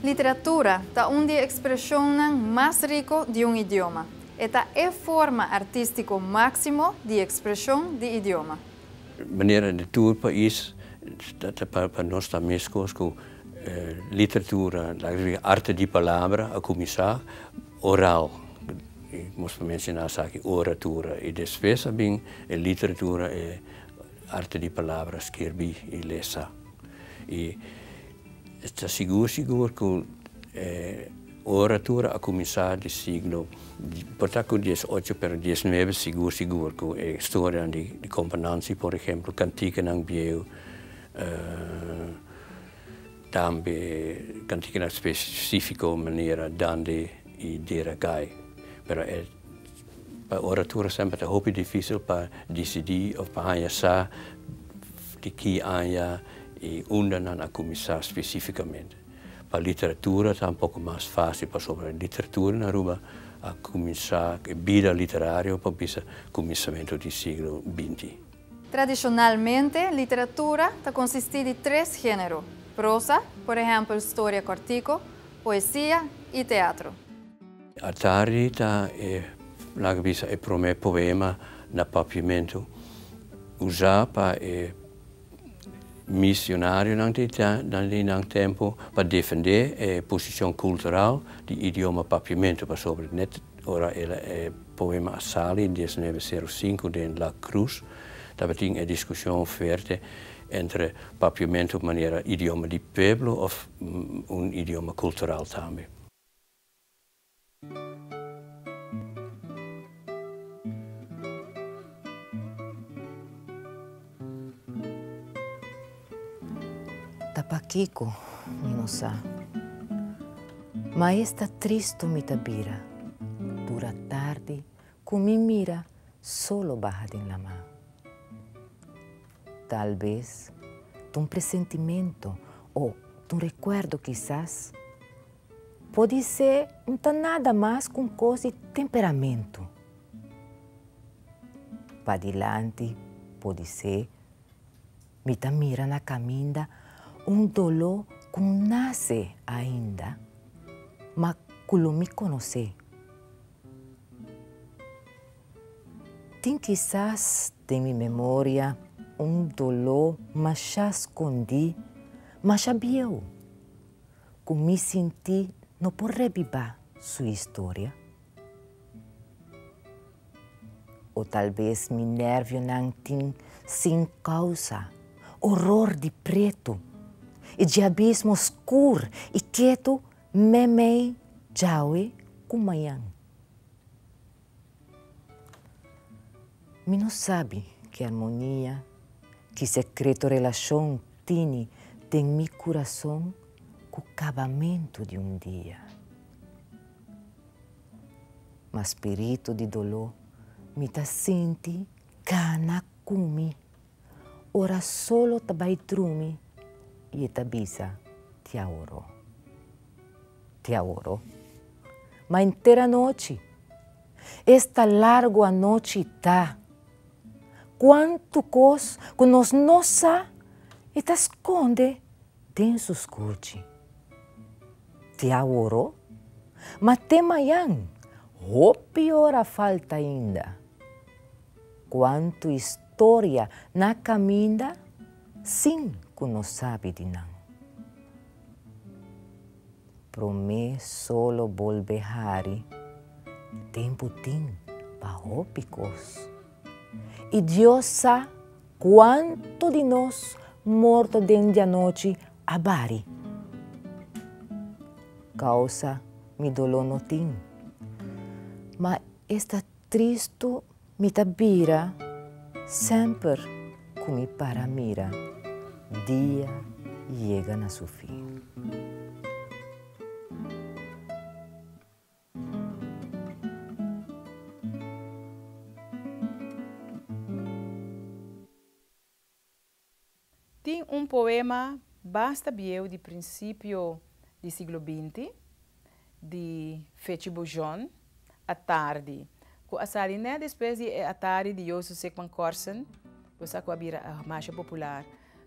Literatura ta un di e ekspreshonnan mas riko di un idioma. E ta e forma artístiko máksimo di ekspreshon di idioma. Manera di tur pais pa nos ta meskos ku literatura, arte di palabra a kuminsá. Oral, i mos ta menshoná esaki, oratura, i despues a bin e literatura, e arte di palabra, skirbí i lesa. I e ta sigur sigur ku e oratura a kuminsá di siglo, por ta ku dies ocho pero dies nuebe sigur sigur, ku e storianan di Companansi, por ehempel, kantikanan bieu. Tambe kantiki na spesifiko manera dande i dera kai. Pero e pa ora tur semper ta hopi difisil pa disidí òf pa haña sa di ki aña i unda nan a kuminsá spesifikamente. Pa literatura ta un poko mas fásil pasobra literatura na Aruba a kuminsá, e bida literario por bisa kuminsamentu di siglo binti. Tradishonalmente, literatura ta konsistí di tres género, prosa, por ehèmpel storia kòrtiku, poesia i teatro. Atardi ta e, laga bisa, e promé poema na Papiamentu, usá pa e misionarionan di nan tempu pa defendé e posishon kultural di idioma Papiamentu, pasobra Ora e poema a sali in diesneve seru sinku den La Cruz, tabatin e diskushon fuerte entre Papiamento manera idioma di pueblo òf un idioma kultural tambe. Ta pakiko mi no sa. Maes ta tristu mi ta bira. Dura tardi ku mi mira solo baha den lama. Talbes ta un presentimentu o ta un rekuerdo kisas. Podisé N ta nada mas ku un kos di temperamentu. Padilanti por di se mi ta mira na caminda un doló cu nace ainda ma cu lo mi conoce. Tin kisas den mi memoria un doló masha scondí, masha bieu cu mi sinti no por rebiba su historia. O talbes mi nervionan tin sin kousa, oror di pretu. E djiabismo skur i ketu mei-mei djawe ku mañan. Mi no sabi ki armonia, ki sekreto relashon tini den mi kurason ku kabamentu di un dia. Ma spiritu di doló mi ta sinti gana kumi. Ora solo ta bai drumi i e ta bisa, Ti awor. Ti awor. Ma enter anochi, esta largu anochi ta. Kuantu kos ku nos no sa e ta skonde. Tin su scuchi. Tia woro? Ma te mayan, hopi ora falta ainda. Cuantu historia na caminda sin cu no sabi di nan. Prome solo bolbe hari, tempu tin pa hopi cos. Y Dios sa. Cuanto di nos morto den dianochi a bari? Causa mi dolo no tin. Ma esta tristu mi ta bira semper cu mi para mira dia yega na su fin. Tin un poema basta bieu di prinsipio di siglo binti, di Fece Bourgeon, A Tardi, cu a sali net despues di e A Tardi di Jozef Sickman-Korsen, bo sa cu a bira masha popular.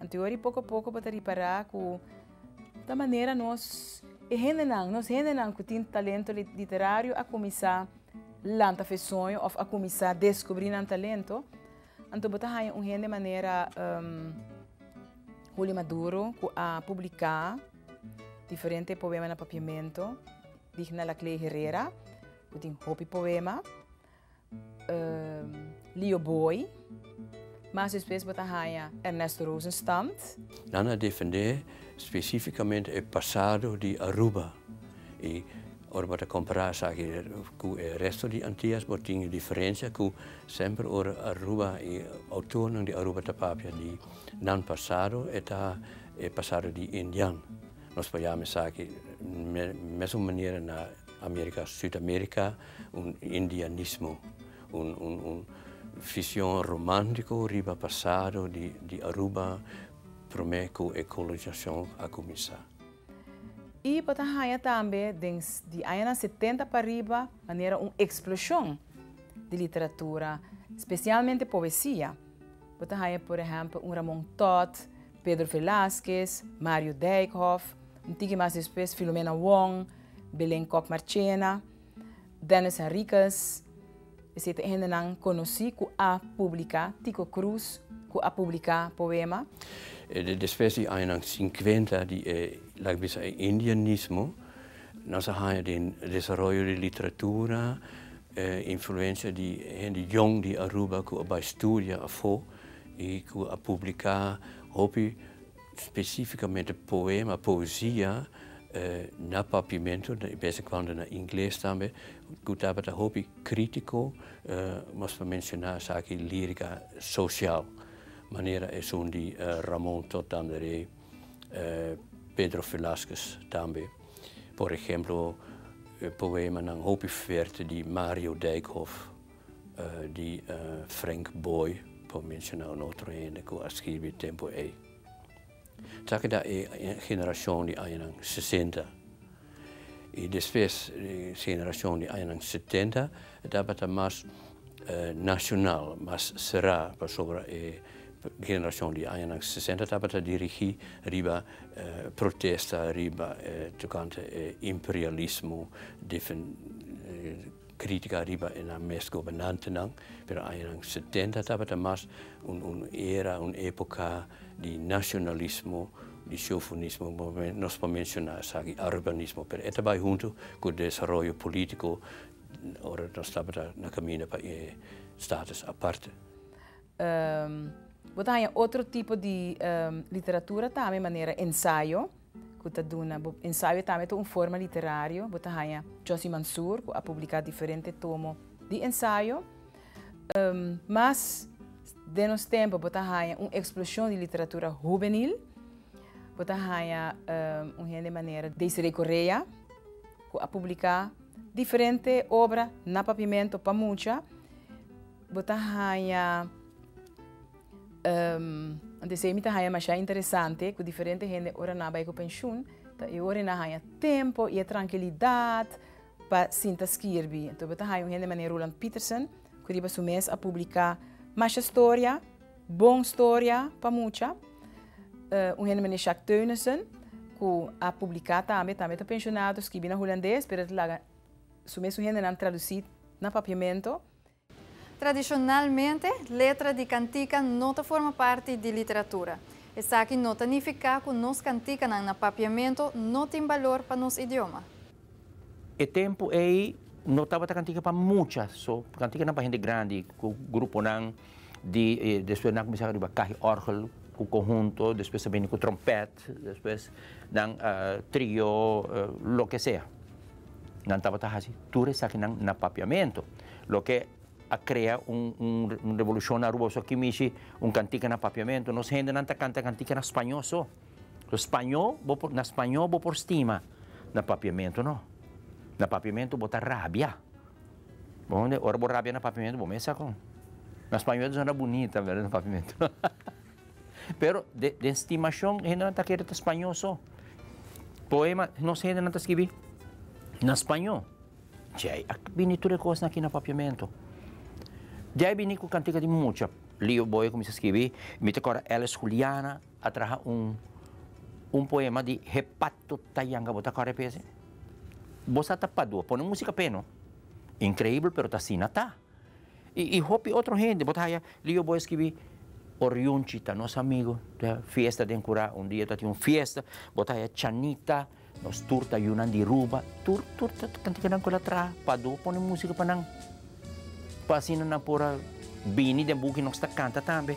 Anto ori poko a poko bo ta ripará ku ta manera nos e hendenan, nos hendenan ku tin talento literario a kuminsá lanta fe soño òf a kuminsá deskubrí nan talento. Anto bo ta haña un hende manera Julio Maduro ku a publiká diferente poema na Papiamento, Digna Laclay Herrera ku tin hopi poema. Leo Booi, mas despues bo ta haña Ernesto Rosenstand. Nan a defendé spesífikamente e pasado di Aruba i ora bo ta kompará esaki ku e resto di Antias bo tin e diferensia ku semper ora Aruba i outornan di Aruba ta papia di nan pasado e ta e pasado di Indian. Nos por yama esaki mesun manera na. Amerika, Sud-Amerika, un indianismo, un vision romantiko riba pasado di Aruba prome ku e kolonisacion a kuminsá. I pa ta haña tambe den di añanan setenta pariba manera un eksploshon di literatura, spesialmente poesia. Bo ta haña por ehèmpel un Ramon Todd, Pedro Velázquez, Mario Dijkhoff, un tiki mas despues Filomena Wong, Belén Kok Marchena, Dennis Henriquez, esei ta e hendenan konosí ku a publiká, Tiko Cruz ku a publiká poema. Despues di añanan sinkuenta di e laga bisa e indianismo, nos a haña den desaroyo di literatura, e influensia di hende yòn di Aruba ku a bai studia afó i ku a publiká hopi Spesífikamente poema, poesia, na Papiamento, i bes di kuando na ingles tambe, ku tabata hopi krítiko, nos por menshoná esaki lírika sosial, manera esun di Ramon Todd Tanderé, Pedro Velázquez tambe. Por ehemplo, poemanan hopi fuerte di Mario Dijkhof. di Frank Boy, pa menshona un otro hende ku a skirbi tempu ei. Esaki ta e generashon di añanan sesenta. I despues e generashon di añanan setenta e tabata mas nashonal, mas será, pasobra e generashon di añanan sesenta tabata dirigí riba protesta, riba tokante e imperialismo. Crítica riba e nan mes gobernantenan, pero aña nan setenta tabata mas un un era, un época di nacionalismo, di chauvinismo, nos por menciona esaki, urbanismo, pero e ta bai hunto cu desaroyo politico ora nos tabata na caminda pa e status aparte. Bo ta haña otro tipo di literatura tambe, manera ensayo. ku ta duna bo ensayo e tambe ta un forma literario. Bo ta haña Josy Mansour ku a publiká diferente tomo di ensayo. Mas den nos tempu bo ta haña un eksploshon di literatura hubenil. Bo ta haña un hende manera Desiree Correa ku a publiká diferente obra na Papiamento pa mucha. Bo ta haña. Anto esei mi ta haña masha interesante ku diferente hende ora nan a bai ku penshun, ta e ora e nan haña tempo i e trankilidat pa sinta skirbi. Anto bo ta haña un hende manera Roeland Peterson ku riba su mes a publiká masha storia, bon storia pa mucha. Un hende manera Sjaak Teunissen ku a publiká tambe, tambe ta penshunado, skirbí na hulandes pero el ta laga su mes su hendenan tradusí na papiamentu. Tradishonalmente, letra di kantika no ta forma parti di literatura. Esaki no ta nifiká ku nos kantikanan na Papiamentu no tin balor pa nos idioma. E tempu ei no tabata kantika pa mucha, so kantikanan pa hende grandi ku gruponan di despues nan a kuminsá riba kahi òrgel ku konhunto, despues a bini ku trompèt. Gat, despues nan trio loke sea. Nan tabata hasi tur esakinan na papiamento, loke a krea un un revolushon na Aruba. So aki mishi un kantika na papiamento. Nos hendenan ta kanta kantika na spañó so. So spañó bo por, na spañó bo por stima, na papiamento no. Na papiamento bo ta rabia. Bo hounde? Ora bo rabia na papiamento bo mester sa kon. Na spañó ta sona bunita, pero na papiamento no. Pero den stimashon hendenan ta kere ta spañó so. Poema nos hendenan ta skibi na spañó. Djai a bini tur e kosnan aki na Papiamento. Djai bini ku kantika di mucha lio bo e kuminsá skibi. Mi ta kòrda Alice Juliana a traha un poema di He pato ta yanga, bo ta kòrda e p'es? Bo sa ta Padua, pone músika p'e no. Inkreibel pero ta asina ta. I i hopi otro hende bo ta haya li yo bo a skibi Oriunchi ta nos amigo ta fiesta den Kura un dia ta tin un fiesta bo ta haya Chanita nos tur ta yunan di Ruba tur tur ta kantikanan ku el a traha Pado pone musika pa nan pa asina nan por a bini den buki nos ta kanta tambe.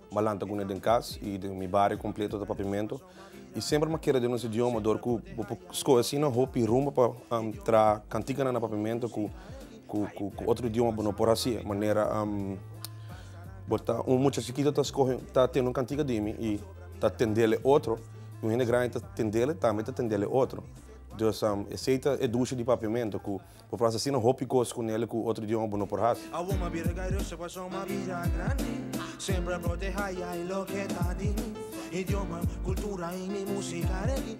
Malan ta guna den cas y den mi bario completo ta papimento y semper ma kere den nos idioma dor cu bo por scoge asina hopi rumbo pa traha canticanan na papimento cu cu otro idioma bo no por haci manera bo ta un mucha chikito ta scoge ta tende un cantica di mi y ta tendel e otro y un hende grandi ta tendel tambe ta tendel e otro, dus esey ta e dushi di papimento cu. Bo por hasi asina hopi cos cu Nelly cu otro idioma bo no por hasi. Awor m'a bira gairoso pasobra m'a bira grandi Siempre proteha ya y lo que ta di mi Idioma, cultura y mi musica reggae.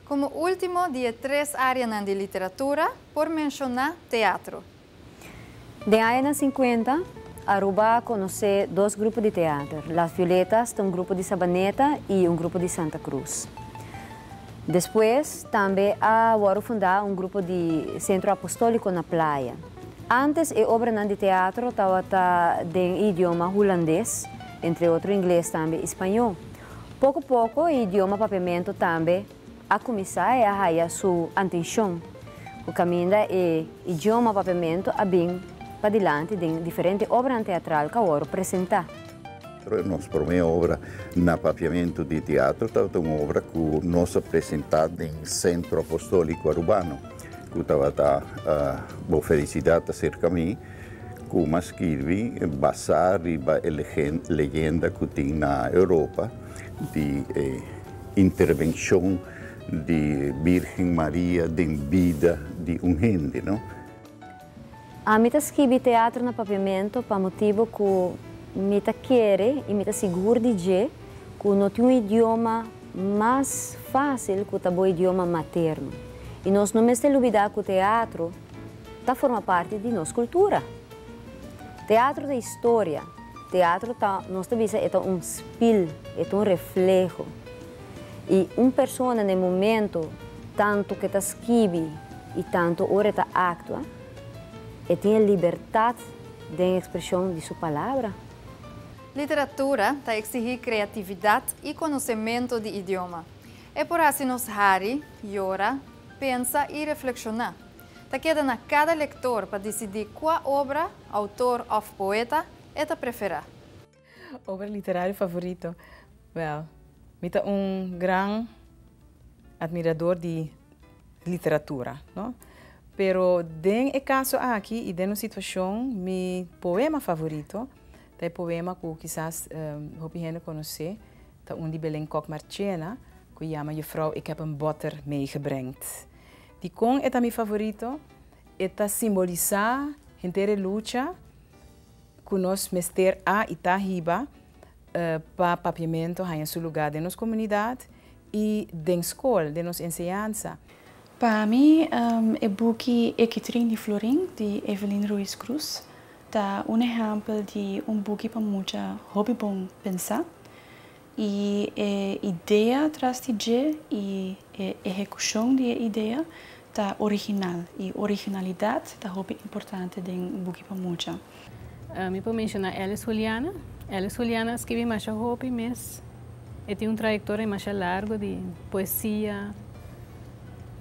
Como ultimo di e tres areanan di literatura por menciona teatro. Den añanan sinkuenta, Aruba a konosé dos grupo di teater, Las Violetas, ta un grupo di Sabaneta i un grupo di Santa Cruz. Despues, tambe a wòrdu fundá un grupo di Sentro Apostóliko na Playa. Ántes e obranan di teatro tabata den e idioma hulandes, entre otro ingles tambe i spañó. Poko poko e idioma Papiamento tambe a kuminsá e a haya su antenshon, ku kaminda e idioma Papiamentu a bin padilanti den diferente obranan teatral ku a wòrdu presentá. Nos promé obra na Papiamentu di Teatro tabata un obra ku nos a presentá den Sentro Apostòliko Arubano, ku tabata Bo Felicidad Ta Serka Mi, ku m'a skirbi basá riba e leyenda ku tin na Europa di e. Intervencion di Birgen Maria den bida di un hende, no? Ami ta skibi teatro na papiamento pa motibu ku mi ta kere i mi ta sigur di dje ku no tin un idioma mas fásil ku ta bo idioma materno. I nos no mester lubidá ku teatro ta forma parti di nos kultura. Teatro ta historia. Teatro ta, nos ta bisa e ta un spil, e ta un refleho. I un persona na e momento, tantu ku e ta skibi i tantu ora e ta aktua, e tin e libertat den ekspreshon di su palabra. Literatura ta eksihí kreatividat i konosementu di idioma. E por hasi nos hari, yora, pensa i reflekshoná. Ta keda na kada lektor pa disidí kua obra, outor òf poeta e ta preferá. Obra literario favorito? Wèl, mi ta un gran admirador di literatura, no? Pero den e kaso aki i den un situashon, mi poema favorito ta e poema ku kisas hopi hende konosé, ta un di Belén Kok Marchena ku yama Juffrouw, ik heb een botter meegebrengd. Dikon e ta mi favorito? E ta simbolisá henter e lucha ku nos mester a i ta hiba pa papiamentu haña su lugá den nos komunidat i den skol, den nos enseñansa. Pa mi, e buki E Kitrin di Florin di Evelyn Ruiz Cruz ta un ehèmpel di un buki pa mucha hopi bon pensá. I e idea tras di dje i e ehekushon di e idea ta original. I originalidat ta hopi importante den Buki pa Mucha. Mi por menshoná Alice Juliana. Alice Juliana a skibi masha hopi mes. E tin un trayektoria masha largo di poesia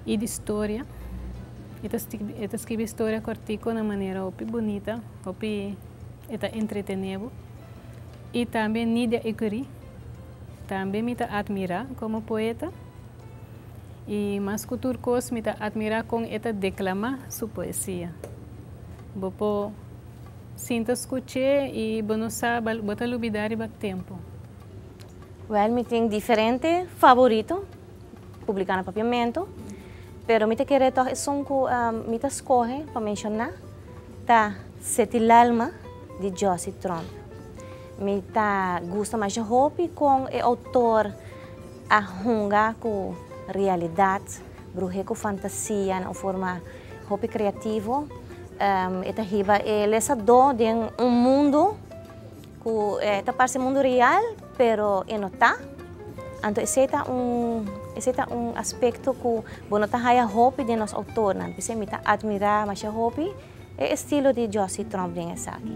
i di storia. E ta e ta skibi storia kortiko na manera hopi bunita, hopi e ta entretené bo. Y tambe Nidia Ecurie, tambe mi ta admira como poeta. Y mas cu tur cos mi ta admira con e ta declama su poesia. Bo por sinta scuch'e y bo no sa bo ta lubida riba tempo. Well, mi tin diferente favorito. publiká na Papiamentu, pero mi ta kere tòg esun ku mi ta skohe pa menshoná ta Setilalma di Josie Tromp. Mi ta gusta masha hopi kon e outor a hunga ku realidat bruje ku fantasia na un forma hopi kreativo. E ta hiba e lesadó den un mundu. Ku e ta parse mundu real pero e no ta. Anto esei ta un esei ta un aspekto ku bo no ta haya hopi den nos outornan. P'esei mi ta atmirá mashá hopi e estilo di Josie Tromp den esaki.